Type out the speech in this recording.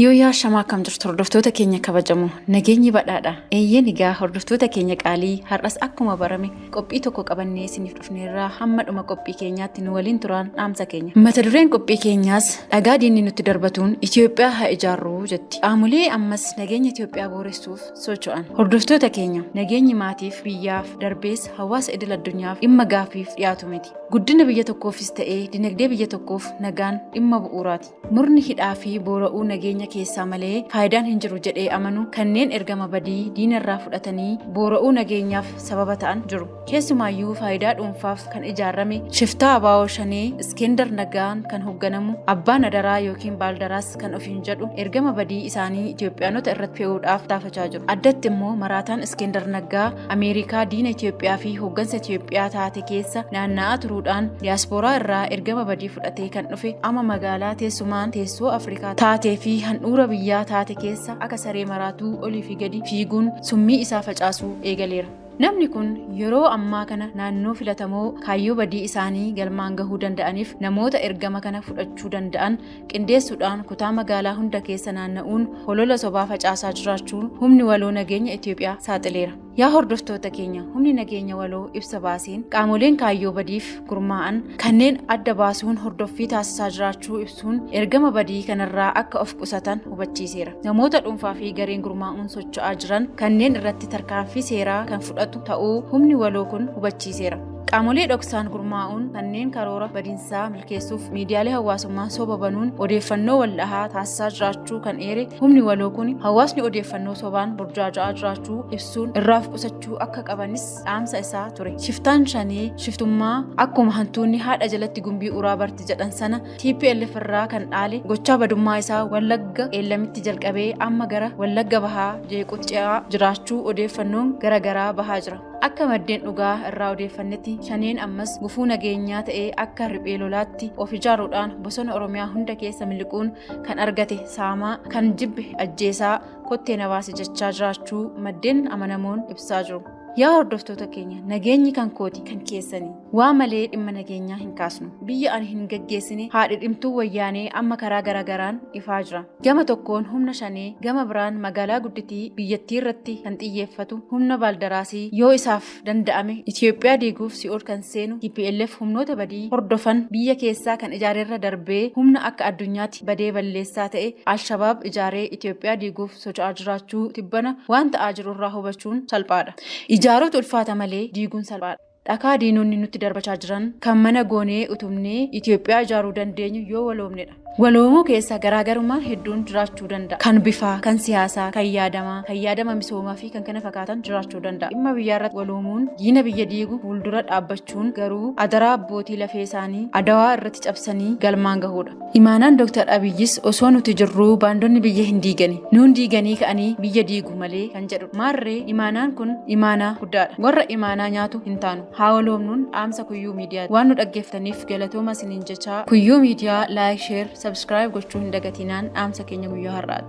Yooyyaa shamaa akkam jirtu hordoftoota keenya kabajamoo nageenyi badhaadha eeyyeen egaa hordoftoota keenya qaalii har'as akkuma barame qophii tokko qabannee isiniif dhufneerraa hamma dhuma qophii keenyaatti nu waliin turaan dhaamsa keenya mata dureen qophii keenyaas dhagaa diinni nutti darbatuun Itoophiyaa haa ijaarruu jetti qaamolee ammas nageenya Itoophiyaa booressuuf socho'an hordoftoota keenya nageenyi maatiif biyyaaf darbees hawaasa idil addunyaaf dhimma gaaffiif dhiyaatu miti guddina biyya tokkoofis ta'ee dinagdee biyya tokkoof nagaan dhimma bu'uuraati Murni hidhaa fi boora'uu nageenya keessaa malee faayidaan hin jiru jedhee amanu kanneen ergama badii diinarraa fudhatanii boora'uu nageenyaaf sababa ta'an jiru. Keessumaayyuu faayidaa dhuunfaaf kan ijaarame shiftaa Abaawoo Shanee Iskender Naggaan kan hoogganamu abbaan adaraa yookiin baaldaraas kan ofiin jedhu ergama badii isaanii Itoophiyaanota irratti fe'uudhaaf taafachaa jiru. Addatti immoo maraataan Iskender Naggaa Ameerikaa diina Itoophiyaa fi hooggansa Itoophiyaa taate keessa naanna'aa turuudhaan diyaaspooraa irraa ergama badii fudhatee kan dhufe amma magaalaa teessumaan teessoo Afrikaa taatee fi handhuura biyyaa taate keessa akka saree maraatuu olii fi gadi fiiguun summii isaa facaasuu eegaleera. Namni kun yeroo ammaa kana naannoo filatamoo kaayyoo badii isaanii galmaan gahuu danda'aniif namoota ergama kana fudhachuu danda'an qindeessuudhaan kutaa magaalaa hunda keessa naanna'uun holola sobaa facaasaa jiraachuu humni waloo nageenya Itoophiyaa saaxileera. Yaa hordoftoota keenya humni nageenya waloo ibsa baaseen qaamoleen kaayyoo badiif gurmaa'an kanneen adda baasuun hordoffii taasisaa jiraachuu ibsuun ergama badii kanarraa akka of qusatan hubachiiseera. Namoota dhuunfaa fi gareen gurmaa'uun socho'aa jiran kanneen irratti tarkaanfii seeraa kan fudhatu ta'uu humni waloo kun hubachiiseera. Qaamolee dhoksaan gurmaa'uun kanneen karoora badinsaa milkeessuuf miidiyaalee hawaasummaa soba banuun odeeffannoo waldhahaa taasisaa jiraachuu kan eere humni waloo kun hawaasni odeeffannoo sobaan burjaaja'aa jiraachuu ibsuun irraaf qusachuu akka qabanis dhaamsa isaa ture. Shiftaan shanee shiftummaa akkuma hantuunni haadha jalatti gumbii uraa barti jedhan sana TPLF irraa kan dhaale gochaa badummaa isaa Wallagga Qeellamitti jalqabee amma gara Wallagga Bahaa jeequutti ce'aa jiraachuu odeeffannoon gara garaa bahaa jira. Akka maddeen dhugaa irraa odeeffannetti shaneen ammas gufuu nageenyaa ta'ee akka riphee lolaatti of ijaaruudhaan bosona Oromiyaa hunda keessa miliquun kan argate saamaa kan jibbe ajjeesaa kottee na baasi jechaa jiraachuu maddeen amanamoon ibsaa jiru. Yaa hordoftoota keenya nageenyi kan kooti kan keessanii. Waa malee dhimma nageenyaa hin kaasnu. Biyya ani hin gaggeessine haadhi dhimtuu wayyaanee amma karaa garagaraan ifaa jira. Gama tokkoon humna shanee, gama biraan magaalaa gudditii biyyattii irratti kan xiyyeeffatu humna baaldaraasii yoo isaaf danda'ame Itoophiyaa diiguuf si'ool kan seenu tplf humnoota badii hordofan biyya keessaa kan ijaarerra darbee humna akka addunyaatti badee balleessaa ta'e Alshabaab ijaaree Itoophiyaa diiguuf socho'aa jiraachuu tibbana waan ta'aa jirurraa hubachuun salphaadha. Ijaaruutu ulfaata malee diiguun salphaadha. Dhakaa diinonni nutti darbachaa jiran kan mana goonee utubnee Itoophiyaa ijaaruu dandeenyu yoo waloomnedha. Waloomuu keessa garaagarummaan hedduun jiraachuu danda'a. Kan bifaa, kan siyaasaa, kan yaadamaa, kan yaadama misoomaa fi kan kana fakkaatan jiraachuu danda'a. Dhimma biyyaarratti waloomuun diina biyya diigu fuuldura dhaabbachuun garuu adaraa abbootii lafee isaanii Adawaa irratti cabsanii galmaan gahuudha. Imaanaan Dooktar Abiyyis osoo nuti jirruu baandonni biyya hin diigani. Nuun diiganii ka'anii biyya diigu malee kan jedhudha. Maarree imaanaan kun imaanaa guddaadha. Warra imaanaa nyaatu hin taanu. Haa waloomnuun dhaamsa Kuyyuu Miidiyaati. Waan nu dhaggeeffataniif galatooma isiniin jechaa Kuyyuu Miidiyaa like, share, subscribe gochuu hin dagatinaan dhaamsa keenya guyyaa har'aati.